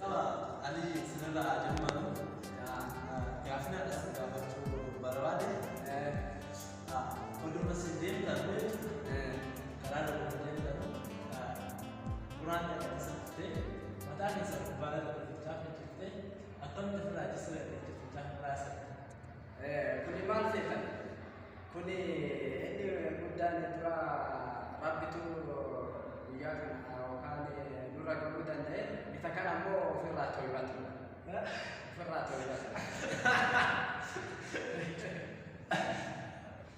Qaba ani sirraa ajammaru gaafina dhas gaafachuu barbaade oduma sin deemtan karaa dhuma deemtan quraan dhaqasa turte mataa keessa gubbaara dhaqiftaa kan jirte akkamitti ofirraa jisira dhaqiftaa muraasa Kuni maal feetan? Kuni inni guddaan dura rabbitu guyyaa kana yookaan nurra gahuu danda'e isa kana immoo ofirraa to'ifatu. Ofirraa to'ifatu.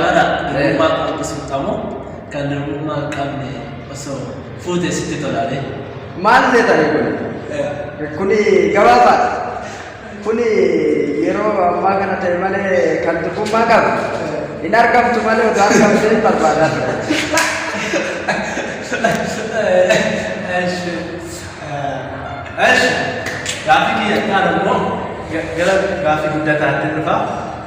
Rara hirummaa qabdu sirxamoo kan hirummaa hin qabne osoo fuute sitti tolaale. Maal seetanii kun? Kuni gabaabaadha. Kuni yeroo ammaa kana ta'e malee kan durbummaa qabu. Hin argamtu malee osoo argamtee hin barbaadaa ture. Gaaffii kiyya kaan ammoo gara gaaffii guddataatti dhufa.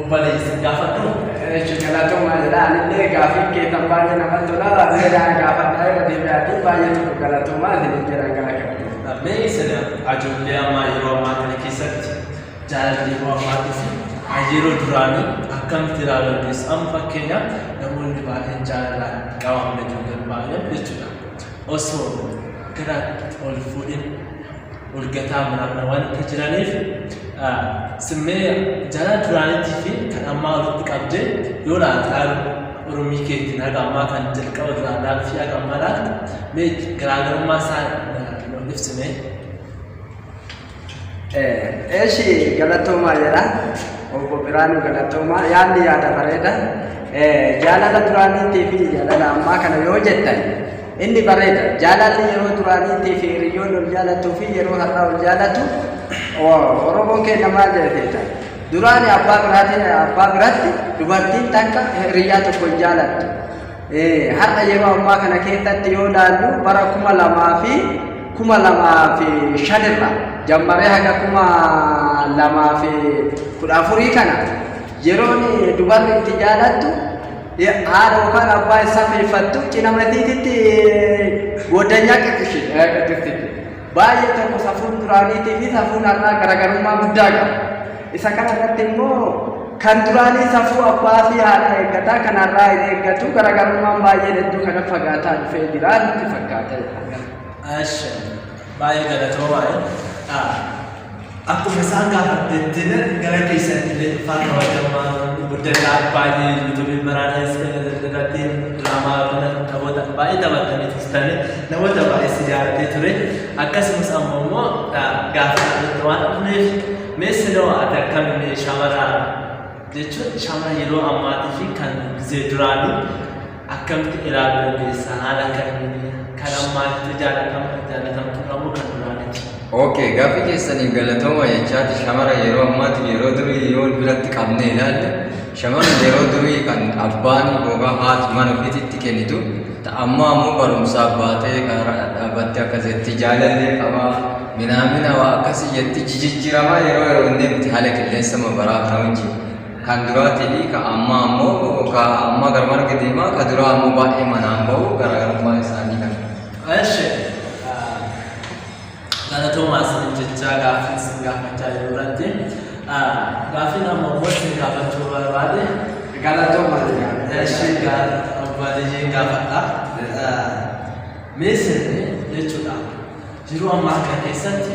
Obboleessa gaafadhu. Eeshi galatoomaa jedha anillee gaafii keetan baay'ee namatti tola. Seedaa gaafadhaa irra deebi'aatii baay'ee tokko galatoomaa isiniin jedhan kana qabdi. Mee sena ajoollee ammaa yeroo ammaa kana keessatti jaalalli yeroo ammaatii fi kan yeroo duraanii akkamitti ilaaluu dandeessu? Amma fakkeenyaaf namoonni baay'een jaalalaan qabaman ijoolleen baay'een jechuudha. Osoo gara ol fuudhin urgataa muraadha waan itti jiraniif simmee jara duraaniitii fi kan ammaa walitti qabdee yoo laataan oromii keetiin haga ammaa kan jalqaba duraadhaa fi haga ammaa laata mee garaagarummaa isaa nuuf ibsimee. Eeshi galatoomaa jedha obbo Biraanuu galatoomaa yaadni yaada bareeda jaalala duraaniitii fi jaalala ammaa kana yoo jettan Inni bareeda. Jaalalli yeroo duraaniitii fi hiriyyoonni wal jaalattuu fi yeroo har'aa wal jaalatu Oromoon keenya maal jedheeta? Duraani abbaa biraatiin abbaa biratti dubartiin takka hiriyyaa tokko hin jaalattu. Har'a yeroo ammaa kana keessatti yoo ilaallu bara kuma lamaa fi kuma lamaa fi shanirra jammaree haga kuma lamaa fi kudha afurii kana yeroon dubarri itti jaalattu Haadha yookaan abbaa isaa feefattu cina matiititti goddanyaa qixxishee qixxiftitti. Baay'ee tokko safuun duraaniitii fi safuun har'aa garaagarummaa guddaa qaba. Isa kana irratti immoo kan duraanii safuu abbaa fi haadha eeggataa kan har'aa hin eeggatu garaagarummaan baay'een hedduu kana fagaataa dhufee jira nutti fakkaata. Asha. Baay'ee galatoomaa. Akkuma isaan gaafattettinan gara keessatti illee dhufaa kabajamaa guddadhaa baay'ee yuutuubii baraadhaas irratti diraamaa kana taphoota baay'ee taphatanii turtani namoota baay'ee si jaalatee ture akkasumas ammoo immoo gaaffii irratti waan dhufneef mee siloo ati akkamiin shaamara jechuun shaamara yeroo ammaatii fi kan gizee duraanii Akkamitti ilaaluu dandeessa haala kamiin kan ammaa itti jaallatama itti jaallatamtu dhabuu kan duraanitti. Ok gaaffii keessaniif galatooma jechaati shamara yeroo ammaati yeroo durii yoo biratti qabne ilaalle shamara yeroo durii kan abbaan yookaan haati mana ofiititti kennitu ta ammaa ammoo barumsaaf baatee karaa dhaabattee akka jetti jaalallee qabaa minaamina waa akkasii jetti jijijjiramaa yeroo yeroo inni miti haala qilleensa mabaraa kana wajjin Kan duraatii fi ka ammaa ammoo ka ammaa gara marga deema ka duraa ammoo baay'ee manaan bahu garaagarummaan isaanii kana. Eshi galatoomaa isiniin jechaa gaaffii isin gaafachaa jiru irratti gaaffiin amma immoo isin gaafachuu barbaade Galatooma jedhama. eshi baadiyyiin gaafadha. Mee sirni jechuudha jiruu ammaa kana keessatti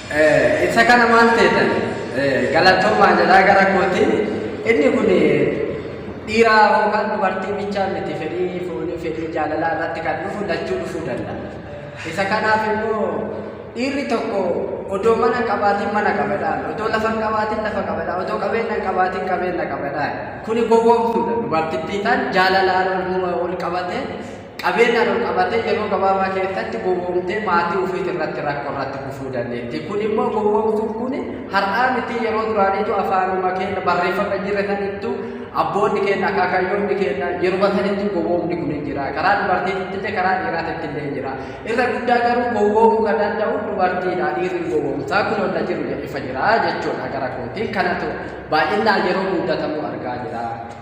Ibsa kana maal teetan galatoomaa jedhaa gara kootiin inni kun dhiiraa yookaan dubartii bichaa miti fedhii foonii fedhii jaalalaa irratti kan dhufu lachuu dhufuu danda'a. Isa kanaaf immoo dhiirri tokko odoo mana hin qabaatiin mana qabadhaan odoo lafa hin qabaatiin lafa qabadhaan odoo qabeenya hin qabaatiin qabeenya qabadhaan kuni gowwoomsuudha dubartittii tan jaalala ol qabatee Qabeenyaan ol qabatee yeroo gabaabaa keessatti gowwoomtee maatii ufiit irratti rakko irratti kufuu dandeetti. Kun immoo gowwoomtuun kun har'aa mitii yeroo duraaniitu afaanuma keenya barreeffama jirre sanittu abboonni keenya akaakayyoonni keenya yeruma sanittu gowwoomni kun hin jira. Karaa dubartiitti illee karaa dhiiraatitti illee hin jira. Irra guddaa garuu gowwoomuu kan danda'u dubartiidha. Dhiirri hin gowwoomsaa kun ol na jiru jedhe ifa jira jechuudha gara kootiin kanatu baay'inaan yeroo muudatamu argaa jira.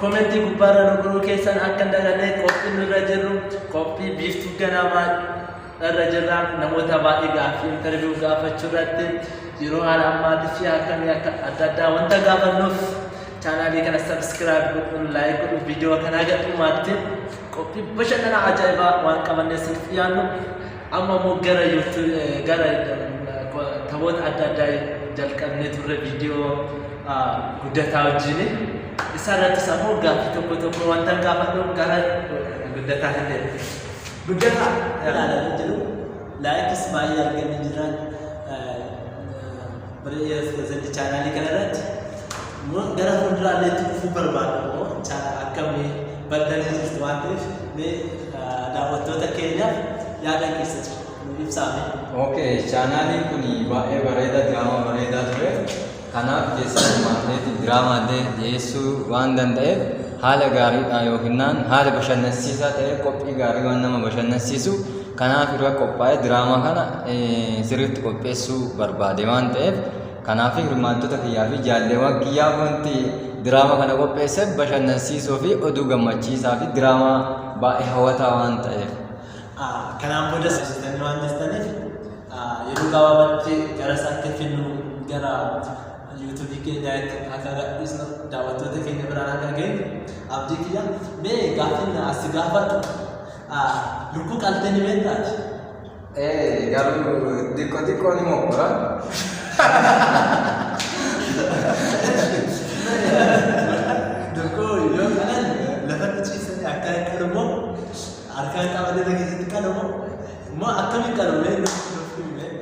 Comment gubbaarra nu guruu keessan akka hin daganne qophiin nurra jirru qophii biiftuu ganamaa irra jirra namoota baay'ee gaaffii interview gaafachuu irratti yeroo haala ammaatii fi akkamii akka adda addaa wanta gaafannuuf chaanaalii kana subscribe godhuun like godhuun viidiyoo kanaa gadhumaatti qophii bashannanaa ajaa'ibaa waan qabannee siif dhiyaannu Amma immoo gara YouTube gara taphoota adda addaa jalqabnee turre viidiyoo guddataa wajjin. Isa irrattis ammoo gaaffii tokko tokko wanta gaafadhu gara guddataa hin deemu. Guddataa ilaalanii jiru. Laayikis baay'ee arganii jiran. Pirezidaantii chaanaalii kana irratti immoo gara fuulduraallee itti fufuu barbaadu immoo akkamii baddanii jirtu waan ta'eef mee daawwattoota keenyaaf yaada keessa jiru nuuf ibsaame. Okay, chaanaaliin kun baay'ee bareeda, diraamaa bareedaa ture. Kanaaf keessa hirmaatneetiin diraamaa illee dhiyeessuu waan danda'eef haala gaariidhaan yookiin haala bashannansiisaa ta'e qophii gaarii waan nama bashannansiisu Kanaaf hirma qophaa'ee diraamaa kana sirriitti qopheessuu barbaade waan ta'eef kanaaf hirmaattota kiyyaa fi jaalleewwan kiyyaa wanti diraamaa kana qopheesseef bashannansiisoo fi oduu gammachiisaa fi diraamaa baay'ee hawwataa waan ta'eef. Kanaan boodas hojjetanii waan jirtaniif yeroo gabaabatti gara isaatti finnu gara yuutuubii keenyaa itti akka gadhiisnu daawwattoota keenya biraan akka geenyu abdii kiyya mee gaaffiin asi gaafadhu Ah, lubbuu qaltee ni beektaa ati? Eh, garuu xiqqoo xiqqoo ni mokkora. Lubbuu yoo qalan lafatti ciisanii akka hin qalu moo harkaan qabatee na keessatti qalu moo moo akkamiin qalu mee nuuf nuuf himi mee.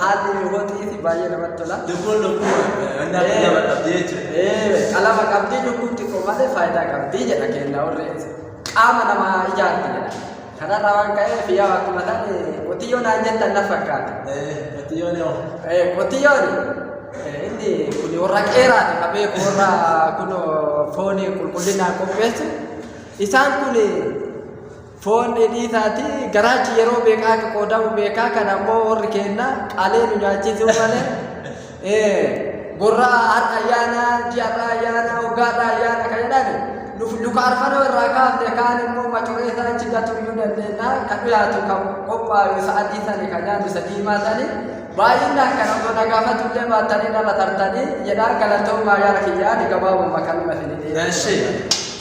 Haalli mi'ootii fi baay'ee namatti tola. Lukkuun lukkuu wandaa fi nama qabdi jechuudha. Ee, qalama qabdi lukkuun xiqqoo malee faayidaa qabdi jedha kenna warri qaama namaa ijaarti jedha. Kanarraa waan ka'eef yaa akkuma tan qotiyyoo naan jettan na fakkaata. Ee, qotiyyoon yoo. Ee, qotiyyoon ee, inni kun warra qeeraati qabee warra kun foonii qulqullinaan qopheessu. Isaan kun Foon dheedhii taati garaachi yeroo beekaa akka qoodamu beekaa kan ammoo warri keenna qalee nu nyaachisuu malee ee, gorraa har'a ayyaana ji'arraa ayyaana waggaarraa ayyaana kan jedhan nuuf duka arfanoo irraa kaafne kaan immoo macoree isaa achi gatuu iyyuu dandeenya kan dhiyaatu kan qophaayu isa adii sani kan nyaatu isa diimaa sani baay'inaan kan osoo na gaafatu illee baattanii dhala tartanii jedhaa galatoomaa yaara kiyyaani gabaabuma kanuma isin dhiyeessu. Eshi.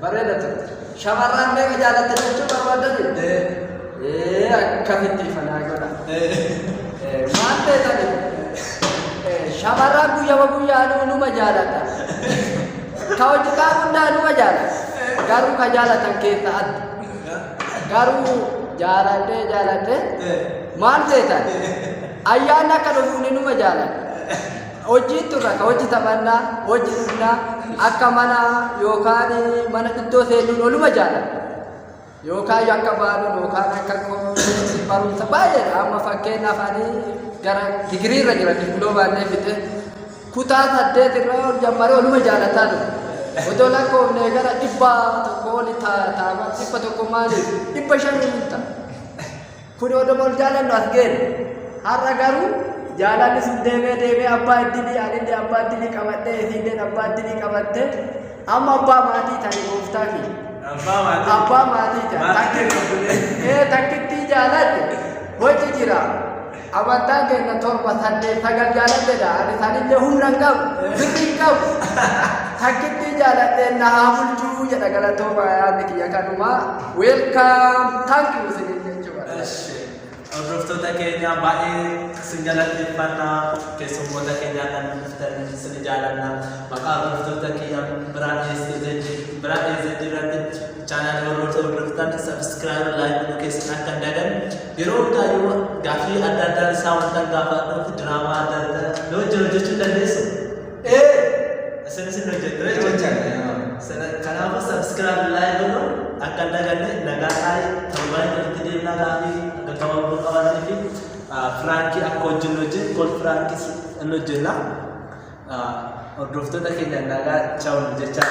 Bareeda turte. Shamarraan meeqa jaalatte jechuu barbaadani? Ee akkamitti ifa naa godha. Ee, Maal beekani? Ee, Shamarraan guyyama guyyaanuu numa jaalata. Ka hojjetaa hundaa numa jaalata. Garuu ka jaalatan keessa adda. Garuu jaalatee jaalatee maal beekan? Ayyaanni akka dhufuun numa jaalata. Hojjiin tun akka hojji taphannaa, hojji dhiisnaa, akka mana yookaan mana iddoo seenuun oluma jaalladha. Yookaan akka baaluun yookaan akka qomoon barumsa baay'eedha. Amma fakkeenyaaf ani gara digirii irra jira dippiloomaanlee fixe. Kutaa saddeet irra ol jammaree oluma jaalataa dhufe. Otoo lakkoofne gara dhibba tokko oli taa'ama dhibba tokko maaliif dhibba shan hin ta'a. Kuni odoo wal jaalannu as geenne. Har'a garuu jaalalli sun deemee deemee abbaa iddilii anillee abbaa iddilii qabadhee isiilleen abbaa iddilii qabattee amma abbaa maatii ta'e gooftaa fi Abbaa maatii. abbaa maatii ta'e. Maatii qabdee. Ee takkittii jaaladhe hojii jira. Amantaan keenya torba saddeet sagal jaaladheedha. Ani sanillee humna hin qabu. Birri hin qabu. Takkittii jaaladhee na haa bulchuu jedha galatooma yaadni kiyya kanumaa. Welcome thank you isinin jechuu barbaada. Eshi, hordoftoota keenya baay'ee isin galateeffanna keessummoota keenyaa kan dhuftan isin jaalanna maqaa hordoftoota kiyya biraa dhiyeessee biraa dhiyeessee jirratti chaanaalii warroota hordoftan sabiskiraayib laayik nu keessan akka hin dagan yeroo hundaa yoo gaaffii adda addaa isaa wanta gaafadhuuf diraamaa adda addaa yoo jiru jechuun dandeessu Ee, isin isin hojjettu jechuudha. Sana- Kanaafuu subscribe like godhu akka hin daganne nagaa taa'ee torbaan irratti deemnaa gaafii akka gabaabduu qabaatanii fi ah, firaankii akka hojjennu hojjennu kol firaankiis hin hojjenna. Ah, Hordoftoota keenya nagaa chaawun jechaa.